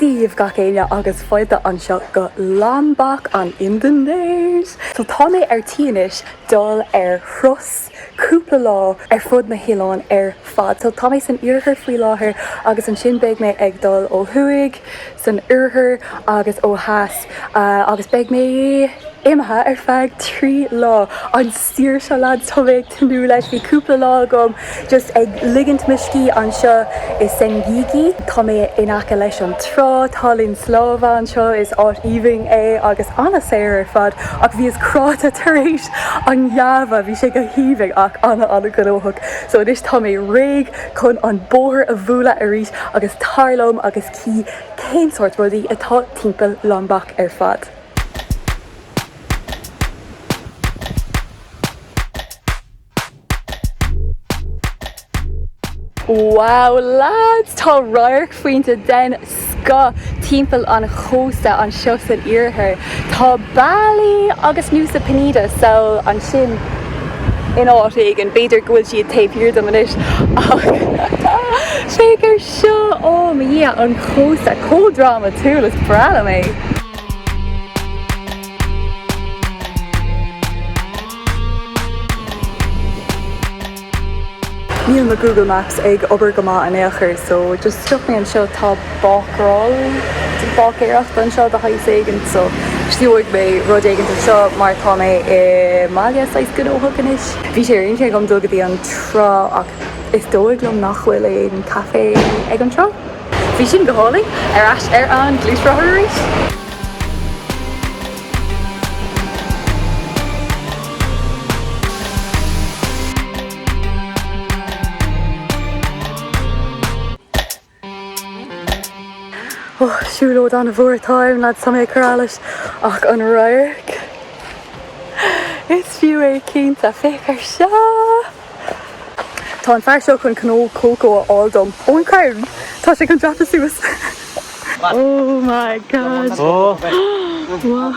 Dia dhaoibh gach éinne agus fáilte anseo go Lombok, an Indinéis. So tá mé ar tí anois dul ar thuras cúpla lá ar fud an oileáin ar fad. So tá mé san iarthar faoi láthair agus ansin beidh mé ag dul ó thuaidh san oirthear agus ó theas agus beidh mé imithe ar feadh trí lá. An saoirse leaids, tá mé ag tnúth leis. Bhí cúpla lá agam just ag ligint mo scíth anseo i Senggigi. Tá mé in aice leis an trá, tá linn snámha anseo, is áit aoibhinn é agus an-saor ar fad. Ach bhíos traochta tar éis Java, bhí sé go haoibhinn ach an-an-ghnóthach. So anois tá mé réidh chun an bóthar a bhualadh arís agus tar liom agus. Cífeam cén sórt rudaí atá timpeall Lombok ar fad? Wow lads! Tá radharc fíor den scoth timpeall an chósta anseo san iarthar. Tá Bali agus Nusa Penida, so ansin, in áit éigin. B'fhéidir go bhfuil siad taobh thiar dom anois ach féach ar. Seo, ó mo Dhia, an cósta chomh drámatúil is breá liom é! Níl mo Google Maps ag obair go maith in aon chor so just stop mé anseo, tá bácról, báicéireacht, anseo de shaghas éigin so stiúigh mé rud éigin anseo mar tá mé i mbaile saghas gnóthach anois. Bhí sé ar intinn agam dul go dtí an trá ach Is dóigh liom nach bhfuil aon caife ag an trá. Bhí sin go hálainn! Ar ais ar an gluaisrothar arís. Och, siúlóid an-mhór atá ann, lads, tá mé ag cur allais ach an radharc. Is fiú é cinnte, féach ar seo! Tá an fear seo chun cnó cócó a fháil dom. ón gcrann! Tá sé chun dreapadh suas. Oh my God! Ó! Wow!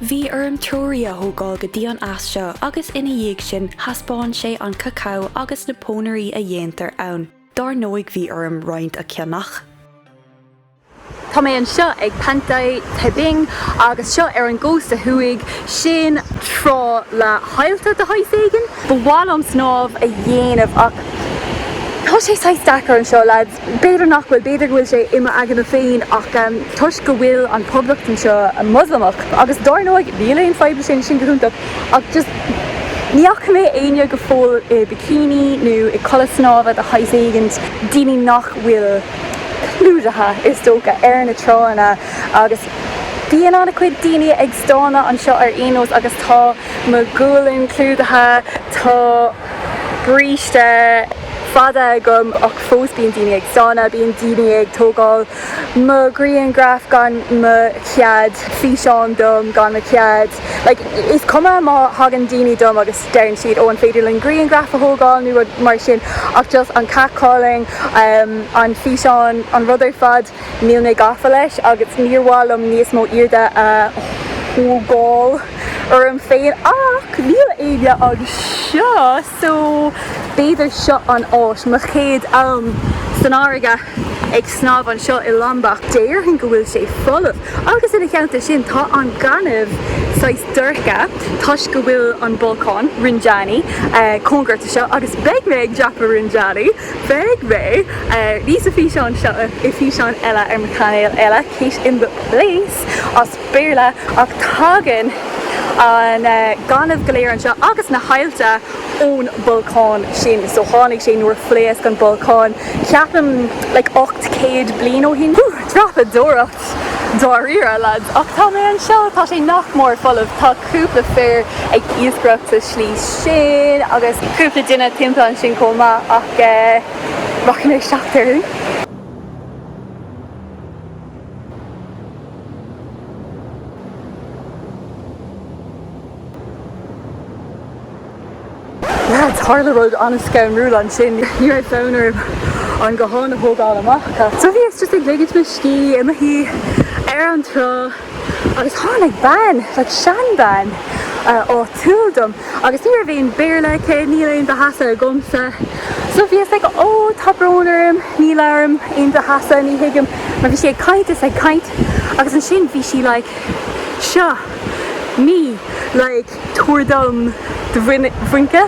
Bhí orm treoraí a thógáil go dtí an eas seo agus ina dhiaidh sin thaispeáin sé an cacao agus na pónairí a dhéantar ann. Dár ndóigh bhí orm roinnt a cheannach. Tá mé anseo ag Pantai Tebing agus seo ar an gcósta thuaidh, sin trá le haillte de shaghas éigin. Ba mhaith liom snámh a dhéanamh ach tá sé saghas deacair anseo, leaids. B'fhéidir nach bhfuil, b'fhéidir go bhfuil sé i m'aigne féin ach toisc go bhfuil an poblacht anseo Moslamach agus dár ndóigh níl aon fadhb le sin, sin go hiontach ach just ní fhaca mé éinne go fóill i bikini nó i culaith snámha de shaghas éigin, daoine nach bhfuil clúdaithe is dócha, ar na tránna agus bíonn an-chuid daoine ag stánadh anseo ar aon nós agus tá mo ghualainn clúdaithe, tá bríste. fada agam ach fós bíonn daoine ag stánadh, bíonn daoine ag tógáil mo ghrianghraif gan mo chead, físeán dom gan mo chead. Like, is cuma má thagann daoine chugam agus deireann siad, oh an féidir linn grianghraf a thógáil nó rud mar sin ach just an catcalling, an físeán, an rud ar fad, níl mé gafa leis agus níor mhaith liom níos mó airde a thógáil orm féin ach níl éinne anseo! So, b'fhéidir seo an áit, mo chéad am san fharraige ag snámh anseo i Lombok, déarfainn go bhfuil sé folamh agus ina theannta sin tá an gaineamh saghas dorcha toisc go bhfuil an bolcán, Rinjani, cóngarach do seo agus beidh mé ag dreapadh Rinjani, beidh mé, ní sa físeán seo, i físeán eile ar mo chainéal eile, Kate in the Place! Béarla ach tagann an gaineamh go léir anseo agus na haillte ón bholcán sin so tháinig sé nuair a phléasc an bolcán ceapaim like 800 bliain ó shin. Whew! Dreapadóireacht dáiríre lads ach tá mé anseo tá sé nach mór folamh tá cúpla fir ag iascaireacht sa slí sin agus cúpla duine timpeall ansin chomh maith ach rachaidh mé seachtar. Tharla rud an-scanrúil ansin. Ní raibh fonn orm an guthán a thógáil amach. So bhíos just ag ligint mo scíth i mo shuí ar an trá agus tháinig bean, like seanbhean, áitiúil chugam agus ní raibh aon Béarla aici, níl aon Bahasa agamsa. So bhíos like ó tá brón orm, ní labhraím aon Bahasa ní thuigim mar bhí sí ag caint is ag caint agus ansin bhí sí like seo ní like tabhair dom do bhuince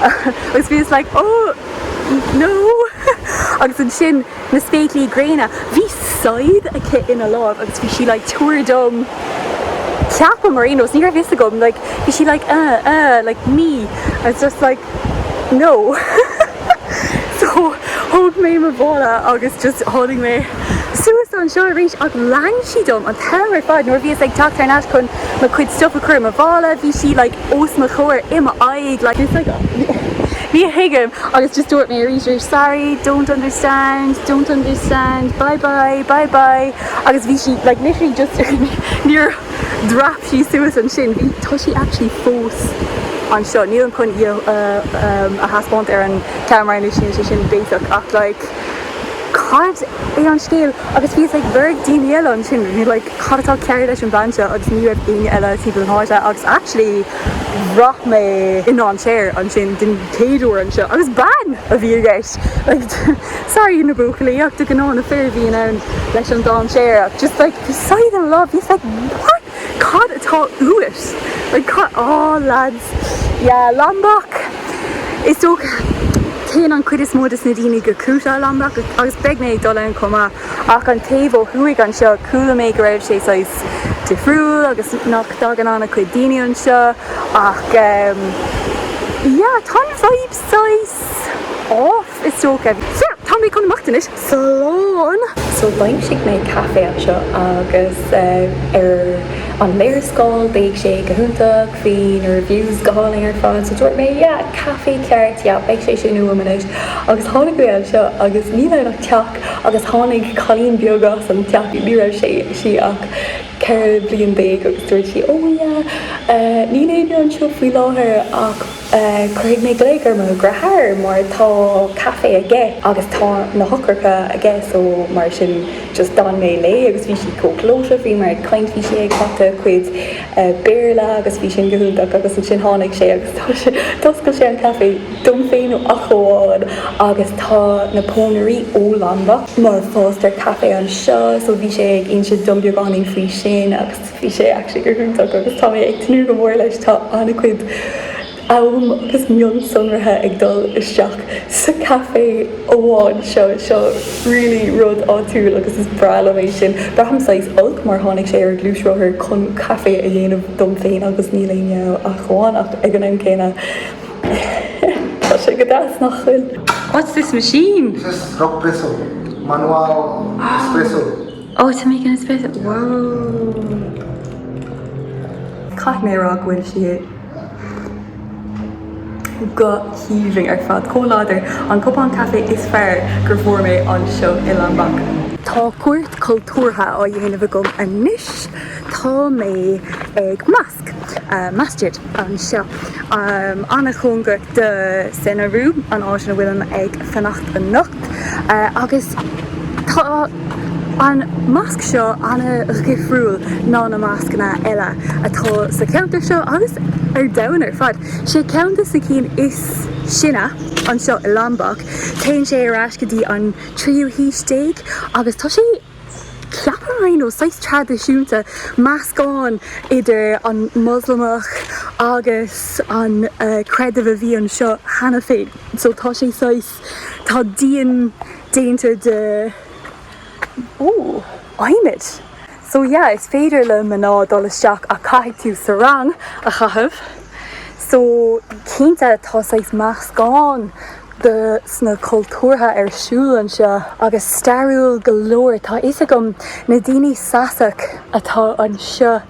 agus bhíos like oh no agus ansin na spéaclaí gréine. Bhí siad aici ina láimh agus bhí sí like tabhair dom ceapaim ar aon nós ní raibh fhios agam like bhí sí like uh uh like ní agus just like no so thóg mé mo mhála agus just tháinig mé suas anseo arís ach lean sí dom an t-am ar fad nuair bhíos ag teacht ar ais chun mo chuid stuif a chur i mo mhála bhí sí like os mo chomhair i m'aghaidh, like, it's like ní thuigim agus just dúirt mé arís arís sorry, don't understand, don't understand, bye bye, bye bye agus bhí sí, like, literally just níor stop sí suas ansin, bhí, tá sí actually fós anseo, nílim chun í a thaispeáint ar an ceamara anois, níl sé sin béasach ach, like, cad é an scéal? Agus bhíos ag lorg daoine eile ansin, like, cad atá cearr leis an bhean seo agus ní raibh éinne eile timpeall na háite agus actually bhraith mé i ndainséar ansin den chéad uair anseo agus bean a bhí i gceist like sorry na buachaillí ach de gnáth na fir a bhíonn ann leis an dainséar ach just like beside in love just like what cad atá uait like cad oh lads yeah Lombok is dócha téann an cuid is mó dos na daoine go Kuta Lombok agus beidh mé ag dul ann chomh maith Ach an taobh ó thuaidh anseo, chuala mé go raibh sé saghas difriúil agus nach dtagann an-chuid daoine anseo ach ehm, yeah, tá an vibe saghas off is dócha. So, tá mé chun imeacht anois, slán! So, d'aimsigh mé café anseo agus eh, ar an léarscáil bhreathnaigh sé go hiontach, bhí na reviews go hálainn ar fad so dúirt mé yeah, café ceart, yeah, beidh sé sin uaim anois. Agus tháinig mé anseo agus ní raibh ach teach Agus tháinig cailín beag as an teach, ní raibh sé, sí ach ceithre bliana déag agus dúirt sí, oh yeah, níl éinne anseo faoi láthair ach cuirfidh mé glaoch ar mo dheartháir mar tá caife aige agus tá na heochracha aige so mar sin just d'fhan mé léi agus bhí sí chomh gleoite bhíomar ag caint bhí sí ag cleachtadh a cuid Béarla agus bhí sin go hiontach agus ansin tháinig sé agus tá sé, d'oscail sé an caife dom féin ach amháin agus tá na pónairí ó Lombok mar fástar caife anseo so bhí sé ag inse dom beagáinín faoi sin agus bhí sé actually go hiontach agus tá mé ag tnúth go mór leis, tá an-chuid am agus mionsonraí ag dul isteach sa caife amháin seo, seo really rud áitiúil agus is breá liom é sin. Braithim saghas olc mar tháinig sé ar an gluaisrothar chun caife a dhéanamh dom féin agus níl éinne ach amháin ach ag an am céanna tá sé go deas nach bhfuil. What's this machine? This is Rok Presso, manual espresso. Oh to make an espresso, wow. Caithfidh mé a rá go bhfuil sí. go haoibhinn ar fad, chomh láidir, an cupán caife is fearr gur bhfuair mé anseo i Lombok. Tá cuairt cultúrtha á dhéanamh agam anois, tá mé ag Mosque, Masjid, anseo, an-chóngarach do Senaru, an áit ina bhfuilim ag fanacht anocht. Agus tá an masc seo an-dhifriúil ná na mascanna eile atá sa cheantar seo agus ar domhan ar fad. 'Sé ceann de na cinn is sine anseo i Lombok. Téann sé ar ais go dtí an tríú haois déag agus tá sé, ceapaim, ó, saghas traidisiúnta, meascán idir an Moslamach agus an creideamh a bhí anseo cheana féin. So tá sé saghas. Tá díon déanta d'adhmad. So yeah, is féidir le mná dul isteach ach caithfidh tú sarong a chaitheamh. So cinnte tá saghas meascán de sna cultúrtha ar siúl anseo. Agus stairiúil go leor. Tá fhios agam na daoine Sasak atá anseo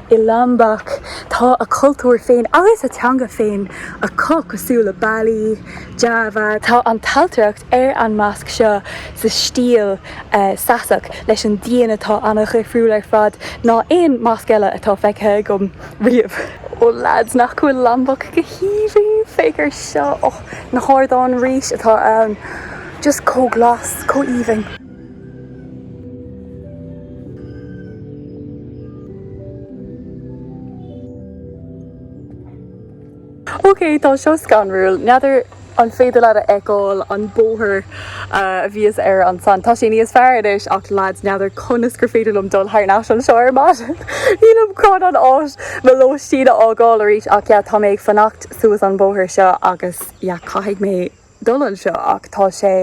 I Lombok, tá a cultúr féin agus a teanga féin acu, cosúil le Bali, Java. Tá an ailtireacht ar an masc seo sa stíl Sasak leis an díon atá an-dhifriúil ar fad ná aon masc eile atá feicthe agam riamh. Ó lads, nach bhfuil Lombok go haoibhinn? Féach ar seo, na hardáin rís atá ann, just chomh glas, chomh aoibhinn. Ok, tá seo scanrúil. N'fheadar an féidir leat a fheiceáil an bóthar a bhíos air ansan. Tá sé níos fearr anois ach lads n'fheadar conas gur féidir liom dul thar n-ais anseo ar maidin. Nílim chun an áit, mo lóistín a fhágáil arís ach yeah, tá mé ag fanacht suas an bóthar seo agus yeah, caithfidh mé dul anseo ach tá sé.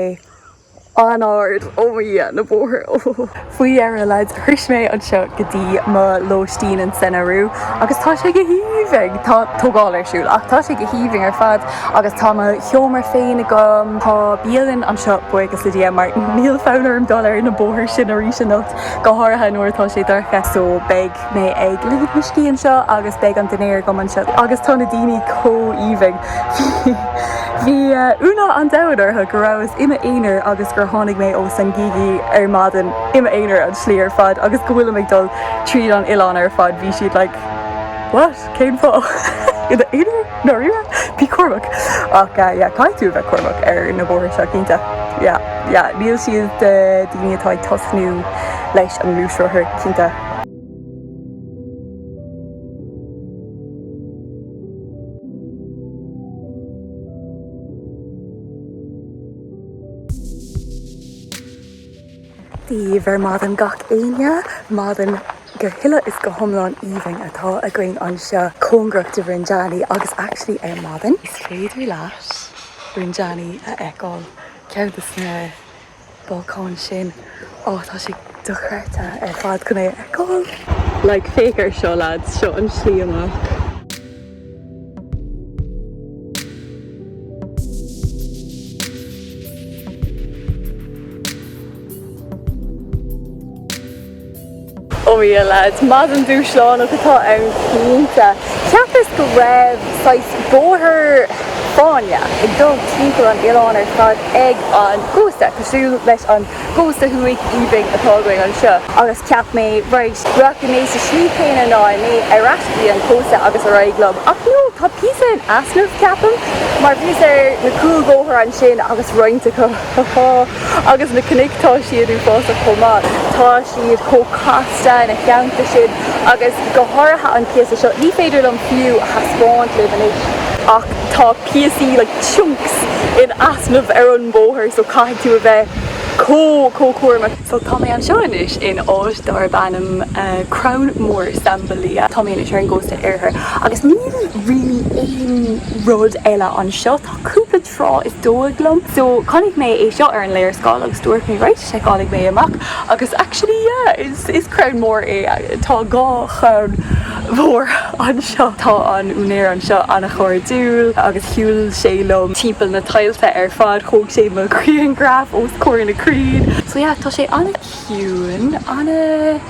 An-ard! Oh mo Dhia, na bóithre! Oh! Faoi dheireadh, lads, shrois mé anseo go dtí mo lóistín in Senaru agus tá sé go haoibhinn! Tá tógáil ar siúl ach tá sé go haoibhinn ar fad agus tá mo sheomra féin agam. Tá bialann anseo buíochas le Dia mar níl fonn orm dul ar na bóithre sin arís anocht, go háirithe nuair atá sé dorcha. So beidh mé ag ligint mo scíth anseo agus beidh an dinnéar agam anseo agus tá na daoine chomh aoibhinn. Bhí ionadh an domhain orthu go rabhas i m'aonar agus gur tháinig mé ó Senggigi ar maidin i m'aonar an tslí ar fad agus go bhfuilim ag dul tríd an oileán ar fad. Bhí siad like what? Cén fáth? I d'aonar? Dáiríre? Bí cúramach. Ach yeah caithfidh tú a bheith cúramach ar na bóithre seo cinnte. Yeah yeah níl siad do dhaoine atá ag tosnú leis an ngluaisrothar cinnte. Daoibh ar maidin gach éinne, maidin go huile is go hiomlán aoibhinn atá againn anseo cóngarach do Rinjani agus actually ar maidin is féidir leat Rinjani a fheiceáil, ceann de na Balcáin sin, á tá sé dochreidte ar fad chun é a fheiceáil. Like, féach ar seo, lads, seo an slí amach. Oh yeah lads, maidin dúshlánach atá ann cinnte. Cheapas go raibh saghas bóthar fáinne ag dul timpeall an oileáin ar fad ag an gcósta, cosúil leis an gcósta thuaidh aoibhinn atá againn anseo. Agus cheap mé, right, rachaidh mé sa slí chéanna, rachaidh mé ar ais go dtí an cósta agus ar aghaidh liom. Ach no, tá píosa in easnamh, ceapaim, mar bhíos ar na cúlbhóithre ansin agus roinnt acu. ha ha. Agus na cnoic, tá siad uafásach chomh maith. Tá siad chomh casta ina theannta sin, agus go háirithe an píosa seo, ní féidir liom fiú a thaispeáint daoibh anois, ach tá píosaí, like chunks, in easnamh ar an mbóthar, so caithfidh tú a bheith chomh, chomh cúramach. So tá mé anseo anois in áit darb ainm Crann Mór, Sambelia. Tá mé anois ar an gcósta oirthir, agus níl really aon rud eile anseo. Tá cúpla. trá is dóigh liom. So, chonaic mé é seo ar an léarscáil agus dúirt mé, right, seiceálfaidh mé amach agus actually yeah, is, is crann mór é. Tá dhá chrann mhór anseo. Tá an úinéir anseo an-chairdiúil agus shiúil sé liom timpeall na tailte ar fad, thóg sé mo ghrianghraf os comhair na crainn. So yeah, tá sé an-chiúin, an-.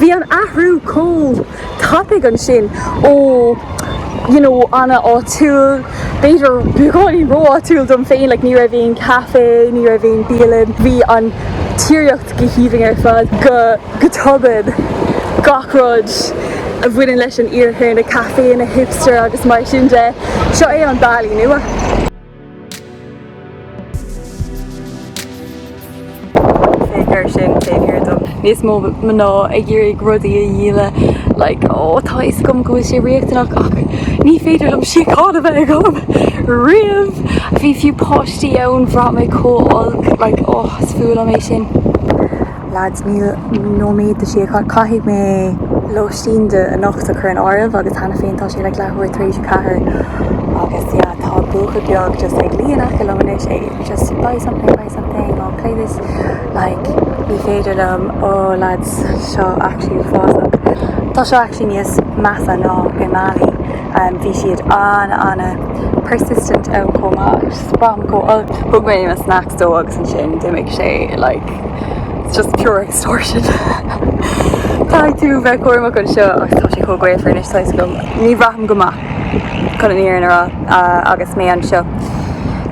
Bhí an athrú chomh tapaidh ansin ó you know an-áitiúil, b'fhéidir beagáinín ró-áitiúil dom féin, like ní raibh aon caife, ní raibh aon bialann, bhí an tíreolaíocht go haoibhinn ar fad, go go tobann gach rud a bhaineann leis an iarthar, na caiféanna hipster agus mar sin de, seo é an Bali nua. Cé gur sin, cé hiarr dom níos mó mná ag iarraidh rudaí a dhíol, like, ó, tá a fhios agam go bhfuil sé riachtanach ach ní féidir liom síocháin a bheith agam riamh! Bhí fiú páistí ann, bhraith mé chomh holc, like, oh, is fuath liom é sin. Lads níl nóiméad le Shea. Caithfidh mé lóistín do anocht a chur in áirithe agus cheana féin tá sé leathuair tar éis a ceathair agus yeah tá buachaill beag just ag luí in aice liom anois é just buy something buy something oh play this like ní féidir liom oh lads seo actually uafásach. Tá seo actually níos measa ná i mBali and bhí siad ana ana persistent ann chomh maith. I just sprang go olc. Thug mé mo snacks dó agus ansin d'imigh sé like. It's just pure extortion. Caithfidh tú bheith cúramach anseo agus tá sé chomh gaofar anois saghas go ní bhraithim go maith chun an fhírinne a rá agus mé anseo.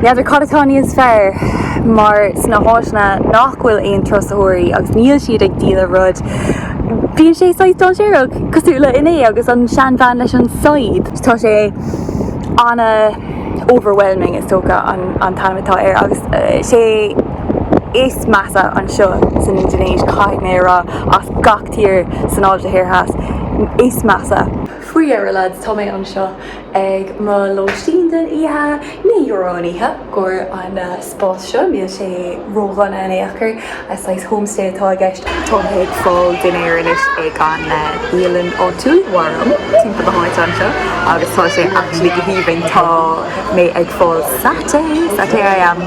N'fheadar cad atá níos fearr mar sna háiteanna nach bhfuil aon turasóirí agus níl siad ag díol aon rud bíonn sé saghas dáinséarach cosúil le inné agus an seanbhean leis an scythe. Tá sé ana overwhelming is dócha an t-ainm atá air agus sé is measa anseo san Indinéis, caithfidh mé a rá, as gach tír san Áise Thoir Theas, is measa. Faoi dheireadh, lads, tá mé anseo ag mo lóistín don oíche. Naoi euro an oíche i gcomhair an spás seo, níl sé ródhona in aon chor, saghas homestay atá i gceist. Tá mé ag fáil dinnéir anois ag an bhialann áitiúil, Warung, timpeall na háite anseo, agus tá sé actually go haoibhinn, tá mé ag fáil satay, satay ayam!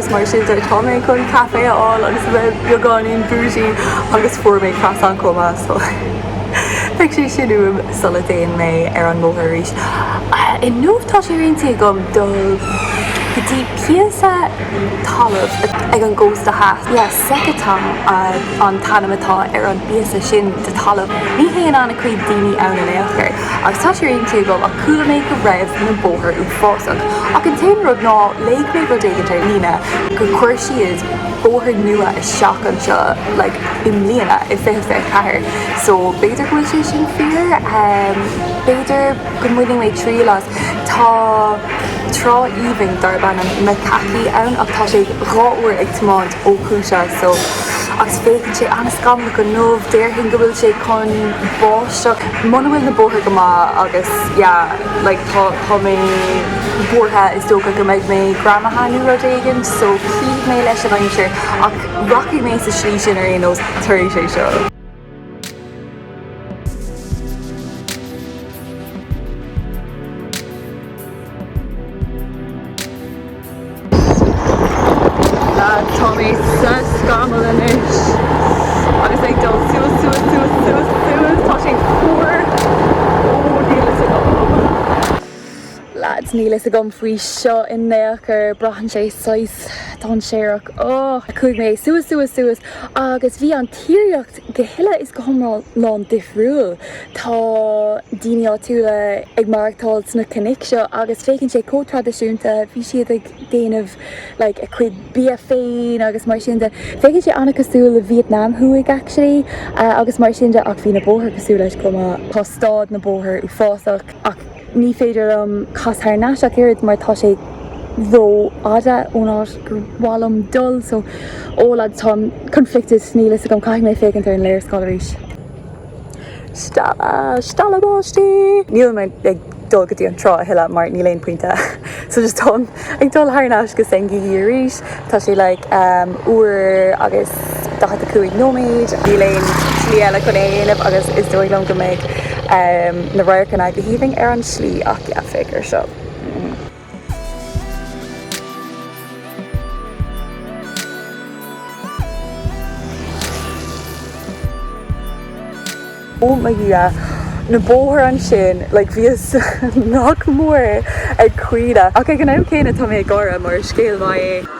Agus mar sin, tá mé chun caife a fháil agus a bheith beagáinín bougie agus fuair mé croissant chomh maith so beidh sé sin uaim sula dtéann mé ar an mbóthar arís. Inniu tá sé ar intinn agam dul go dtí píosa talaimh ag an gcósta theas. Yes, Sekotong an t-ainm atá ar an bpíosa sin de thalamh. Ní théann an-chuid daoine ann in aon chor. Agus tá sé ar intinn agam ach chuala mé go raibh na bóithre uafásach. Ach an t-aon rud ná léigh mé rud éigint ar líne gur chuir siad bóthar nua isteach anseo like i mbliana, i 2024. So b'fhéidir go bhfuil sé sin fíor. B'fhéidir go mbainfidh mé triail as. Tá trá aoibhinn darb ainm Mekaki ann ach tá sé dhá uair ag tiomáint ó Kuta so agus féachann sé an-scamallach inniu. Déarfainn go bhfuil sé chun báis. So, muna bhfuil na bóithre go maith agus yeah, like tá, tá mé buartha, is dócha go mbeidh mé greamaithe ann nó rud éigin so cífidh mé leis an aimsir ach rachaidh mé sa slí sin ar aon nós tar éis é seo. Tá mé sa scamall anois agus ag dul suas, suas, suas, suas, suas. Tá sé fuar. Ó, níl fhios agam. Lads, níl fhios agam faoi seo in aon chor. Braitheann sé saghas dainséarach. Ó! Chuaigh mé suas, suas, suas agus bhí an tírdhreach. go huile is go hiomlán difriúil. Tá daoine áitiúla ag maireachtáil sna cnoic seo agus féachann sé chomh traidisiúnta, bhí siad ag déanamh like a cuid bia féin agus mar sin de. Féachann sé an-chosúil le Vietnam Thuaidh actually agus mar sin de ach bhí na bóithre cosúil leis chomh maith. Tá stáid na bóthair uafásach ach. Ní féidir liom cas thar n-ais ach oiread mar tá sé ró fhada ón áit gur mhaith liom dul so oh lads táim conflicted níl fhios agam caithfidh mé féachaint ar an léarscáil arís. Stealladh! Stealladh báistí! Níl mé ag dul go dtí an trá a thuilleadh mar níl aon pointe so just táim. Ag dul thar n-ais go Senggigi arís. Tá sé like uair agus daichead a cúig nóiméad. Níl aon slí eile chun é a dhéanamh agus is dóigh liom go mbeidh na radharcanna go haoibhinn ar an slí ach yeah, féach ar seo. oh my dhia, na bóthair ansin, like bhíos nach mór ag caoineadh ach ag an am céanna tá mé ag gáire mar scéal maith é.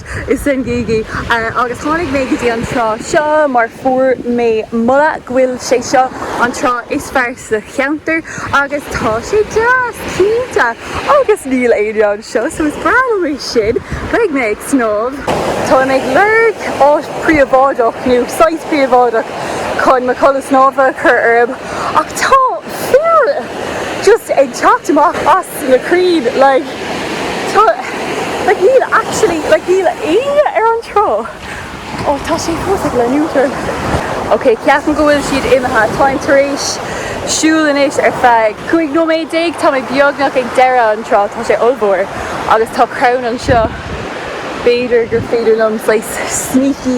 i Senggigi. Agus tháinig mé go dtí an trá seo mar fuair mé moladh go bhfuil sé seo an trá is fearr sa cheantar agus tá sé deas, cinnte, agus níl éinne anseo so is breá liom é sin. Beidh mé ag snámh. Táim ag lorg áit phríobháideach nó site phríobháideach chun mo chulaith snámha a chur orm ach tá fir just ag teacht amach as na crainn like tá like níl actually like níl éinne ar an trá oh tá sé fós ag leanúint orm ok ceapaim go bhfuil siad imithe táim tar éis siúl anois ar feadh cúig nóiméad déag tá mé beagnach ag deireadh an trá tá sé ollmhór agus tá crann anseo b'fhéidir gur féidir liom saghas sneaky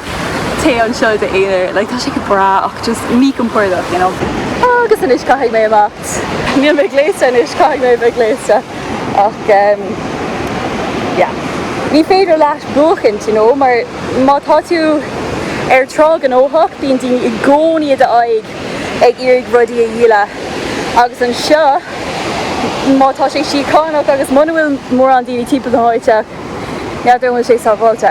Tá tú anseo i d'aonar. Like tá sé go breá ach just míchompordach, you know. Agus anois caithfidh mé imeacht. Níl mé gléasta anois, caithfidh mé a bheith gléasta. Ach ehm yeah. Ní féidir leat buachaint, you know, mar má tá tú ar trá gnóthach bíonn daoine i gcónaí i d'aghaidh ag iarraidh rudaí a dhíol agus anseo má tá sé síocháineach agus muna bhfuil mórán daoine timpeall na háite N'fheadar an bhfuil sé sábháilte.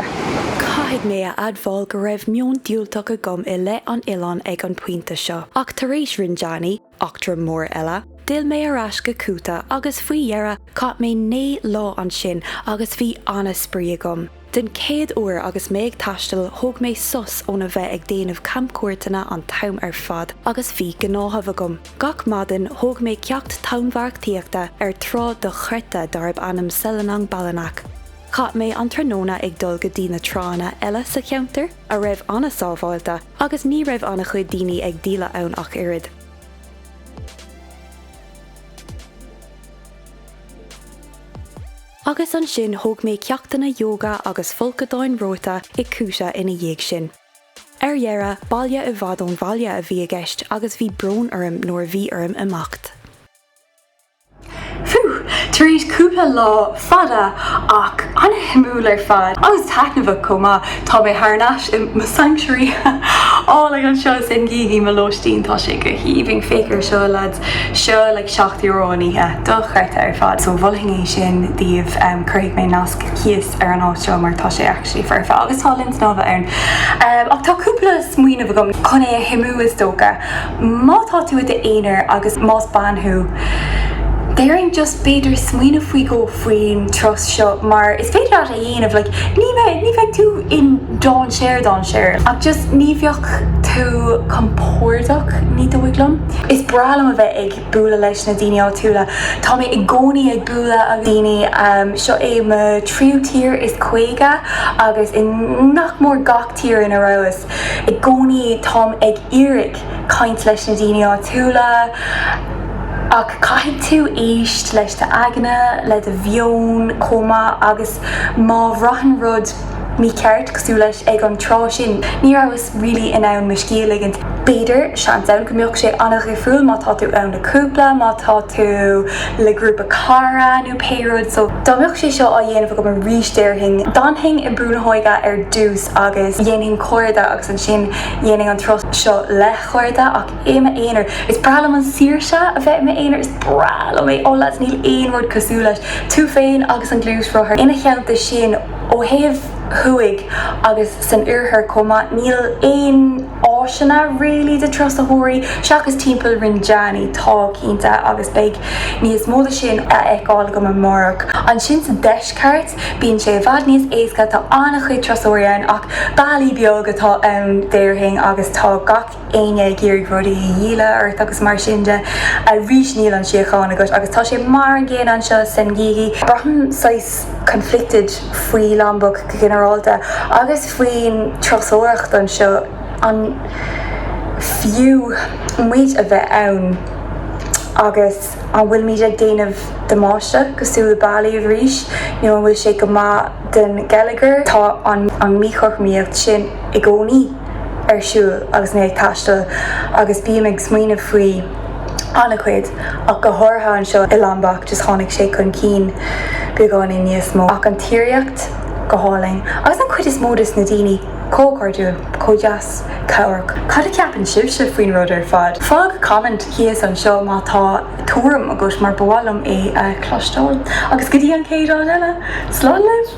Caithfidh mé a admháil go raibh meon diúltach agam i leith an oileáin ag an pointe seo, ach tar éis Rinjani, eachtra mhór eile, d'fhill mé ar ais go Kuta agus faoi dheireadh chaith mé naoi lá ansin agus bhí ana-spraoi agam. Den chéad uair agus mé ag taisteal thóg mé sos óna bheith ag déanamh camchuairteanna an t-am ar fad agus bhí gnáthamh agam. Gach maidin thóg mé ceacht tonnmharcaíochta ar trá dochreidte darb ainm Selong Belanak. Chaith mé an tráthnóna ag dul go dtí na tránna eile sa cheantar, a raibh an-sábháilte, agus ní raibh an-chuid daoine ag díol ann ach oiread. Agus ansin thóg mé ceachtanna yoga agus folcadáin reoite i Kuta ina dhiaidh sin. Ar dheireadh, baile i bhfad ón bhaile a bhí i gceist agus bhí brón orm nuair a bhí orm imeacht. Phew! Tar éis cúpla lá fada ach an-shuimiúil ar fad, agus taitneamhach chomh maith, tá mé thar n-ais i mo sanctuary álainn anseo i Senggigi, mo lóistín. Tá sé go haoibhinn. Féach air seo, lads. Seo like seacht euro an oíche. Dochreidte ar fad. So mholfainn é sin daoibh. Cuirfidh mé nasc thíos ar an áit seo mar tá sé a. ctually foirfe agus tá linn snámha ann. Ach tá cúpla smaoineamh agam chun é a choimriú is dócha. Má tá tú i d'aonar agus más bean thú, déarfainn just b'fhéidir smaoineamh faoi dhó faoin turas seo mar is féidir leat é a dhéanamh like ní bheadh, ní bheadh tú in dainséar, dainséar ach just ní bheadh tú compordach, ní dóigh liom. Is breá liom a bheith ag. bualadh leis na daoine áitiúla. Tá mé i gcónaí ag bualadh le daoine. Seo é mo tríú tír is caoga agus i nach mór gach tír ina rabhas, i gcónaí táim ag iarraidh caint leis na daoine áitiúla. Ach caithfidh tú éisteacht leis d'aigne, le do mheon chomh maith agus má bhraitheann rud, mícheart, cosúil leis, ag an trá sin. Ní rabhas really in ann mo scíth a ligint. B'fhéidir, seans ann, go mbeadh sé an-dhifriúil má tá tú ann le cúpla, má tá tú le grúpa cara nó pé rud. So, dá mbeadh sé seo á dhéanamh agam arís déarfainn, d'fhanfainn i mbrúnna óige ar dtús agus dhéanfainn cairde agus ansin dhéanfainn an turas seo le cairde ach i m'aonar. Is breá liom an saoirse a bheith i m'aonar, is breá liom é. Ó lads, níl aon rud cosúil leis. Tú féin agus an gluaisrothar. Ina theannta sin. Ó thaobh thuaidh agus san oirthear chomh maith níl aon áiseanna really do turasóirí, seachas timpeall Rinjani, tá cinnte, agus beidh níos mó de sin á fheiceáil agam amárach. Ansin sa deisceart bíonn sé i bhfad níos éasca, tá an-chuid turasóirí ann ach Bali beag atá ann déarfainn agus tá gach éinne ag iarraidh rudaí a dhíol ort agus mar sin de. Arís níl an síocháin agat agus tá sé mar an gcéanna anseo i Senggigi. Braithim saghas conflicted faoi Lombok go ginearálta agus faoin turasóireacht anseo, an fiú muid a bheith ann agus an bhfuilimid ag déanamh damáiste cosúil le Bali arís nó an bhfuil sé go maith don gheilleagar? Tá an míchothromaíocht sin i gcónaí. ar siúl agus mé ag taisteal agus bím ag smaoineamh faoi an-chuid, ach go háirithe anseo i Lombok, just tháinig sé chun cinn beagáinín níos mó. Ach an tírdhreach, go hálainn. Agus an chuid is mó dos na daoine, chomh cairdiúil, chomh deas, cabhrach. Cad a cheapann sibhse faoin rud ar fad? Fág comment thíos anseo má tá tuairim agat mar ba mhaith liom é a chlosteáil. Agus go dtí an chéad am eile, slán leat!